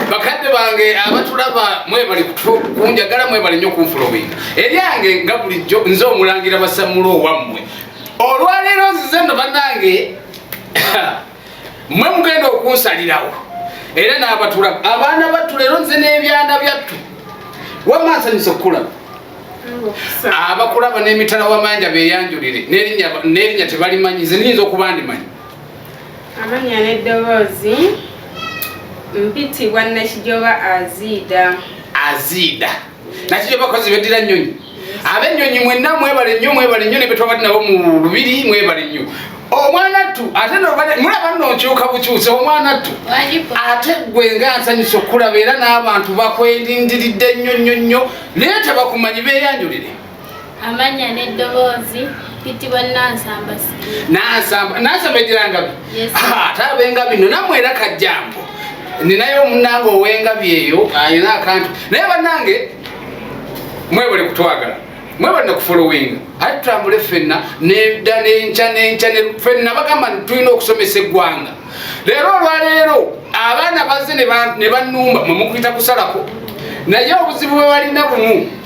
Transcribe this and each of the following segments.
bakadde bange abatulaba mwebali kunjagala mwebali nnyo kunfulowinga eryange nga bulijjo nze omulangira basamula owammwe olwaleero nzize no banange mwe mugenda okunsalirawo era n'abatulaba abaana battu leero nze n'ebyana byattu wamma nsanyusa okukulaba abakulaba n'emitala wamanja beyanjulire n'erinnya tebalimanyi nze niyinza okuba ndimanyi Amannya n'eddoboozi mpitibwa Nakijoba Aziida. Aziida. Nakijoba bakozi beddira nnyonyi. Ab'ennyonyi mwenna mwebale nnyo mwebale nnyo ne be twabadde nabo mu lubiri mwebale nnyo. omwana ttu ate mulaba nno nkyuka bukyusa omwana ttu ate gwe nga nsanyusa okulaba era n'abantu bakwelindiridde nnyo nnyo nnyo naye tebakumanyi beeyanjulire amanya n'eddoboozi bitibwa nansamba nansamba nansamba egirangabi ate abengabi no namwe era kajjambo ninayo omunange owengabi eyo alina akantu naye banange mwebale kutwagala mwebale nakufuluwinga ate tutambule fenna neda nenca nenca fenna bagamba tulina okusomesa eggwanga leero olwaleero abaana baze ne banumba mwemukuyita kusalako naye obuzibu bwe balina bumu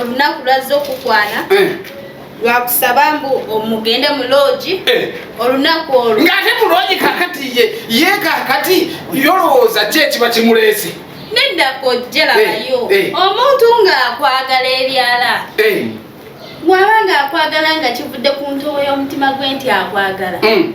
olunaku lwazze okukwana eh. lwakusaba mbu omugende mu loogi eh. olunaku olwo ng'ate mu loogi kakati ye ye kakati yolowooza ki ekiba kimuleese nedda kojjerabayo eh, omuntu ng'akwagala ebyala bw'aba ng'akwagala nga kivudde ku ntobo y'omutima gwe nti akwagala hmm.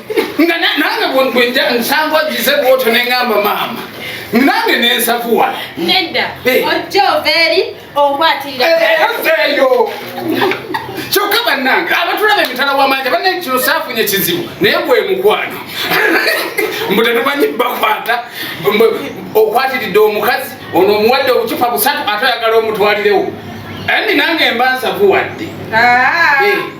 nga nange bwenja nsanga ogize bwoto nengamba maama nange nensavuwa nedda eh. ojja ovaeri okwatirireeyo kyokka bannange abatulaba emitala wamanja banne kino saafunye kizibu naye gwe mukwano mbu tetumanyi bakwata okwatiridde omukazi ono omuwadde obucupa busatu ate oyagala omutwalirewo ani nange mba nsavuwadde ah. eh.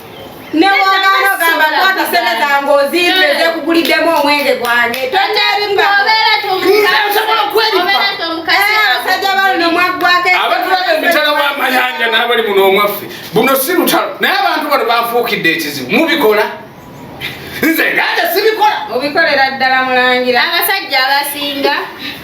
nekuguliddemu omwenge gwange abasajja balino mwaggwako abatulaga emitala wamayanja nabali muno omwaffe buno si lutalo naye abantu bano bafuukidde ekizibu mubikola nze nganja sibikola obikolera ddala mulangira abasajja abasinga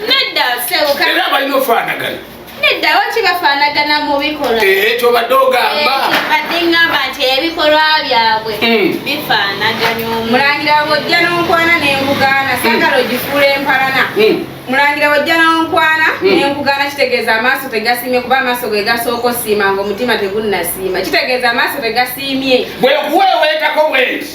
Nedda sebo kale. Era balina ofanagana. Nedda waki bafanagana mu bikolwa. Eh ekyo badde ogamba. Eh, badde ngamba nti ebikolwa byabwe hmm. bifanaganya omu. Mulangira bwojja n'onkwana ne nkugaana hmm. sagala ogifuula empalana. Hmm. Mulangira bwojja n'onkwana ne nkugaana kitegeeza amaaso tegasiimye kuba amaaso ge gasooka osiima ng'omutima tegunnasiima. Kitegeeza amaaso tegasiimye. Bwe kuweeweetako bwenti.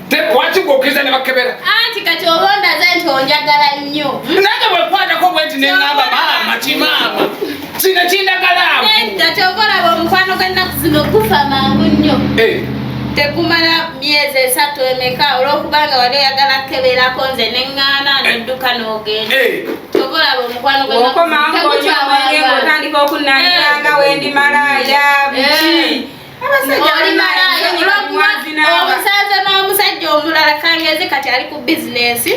tekwakigukiriza ne bakebera anti kati oba ondaze nti onjagala nnyo nange bwekwatako bwe nti neŋamba maama kimaama kino kindagalamu nedda kyova olaba omukwano gwennaku zino gufa mangu nnyo eh. tekumala myezi esatu emeka olwokubanga wali oyagala kukeberako nze neŋŋaana nedduka n'ogenda eh. kyova olaba omukwano gwennaku zino tegukyawaa otandika okunaniranga eh. wendi malaaya biki omusanze n'omusajja omulala kangezi kati ali ku bizinesi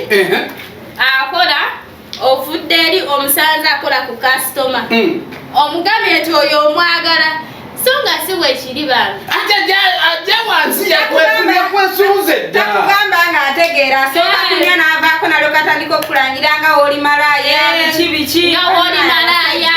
akola ovudde eri omusanze akola ku kasitoma hmm. omugambye nti oyo omwagala so nga si wekiri bambi ajja wansi yakwesunze ddakugamba nga ategeera soka eh. kunya n'avaako nalyo katandika okulangira nga woli malaaya eh. biki biki nga woli malaaya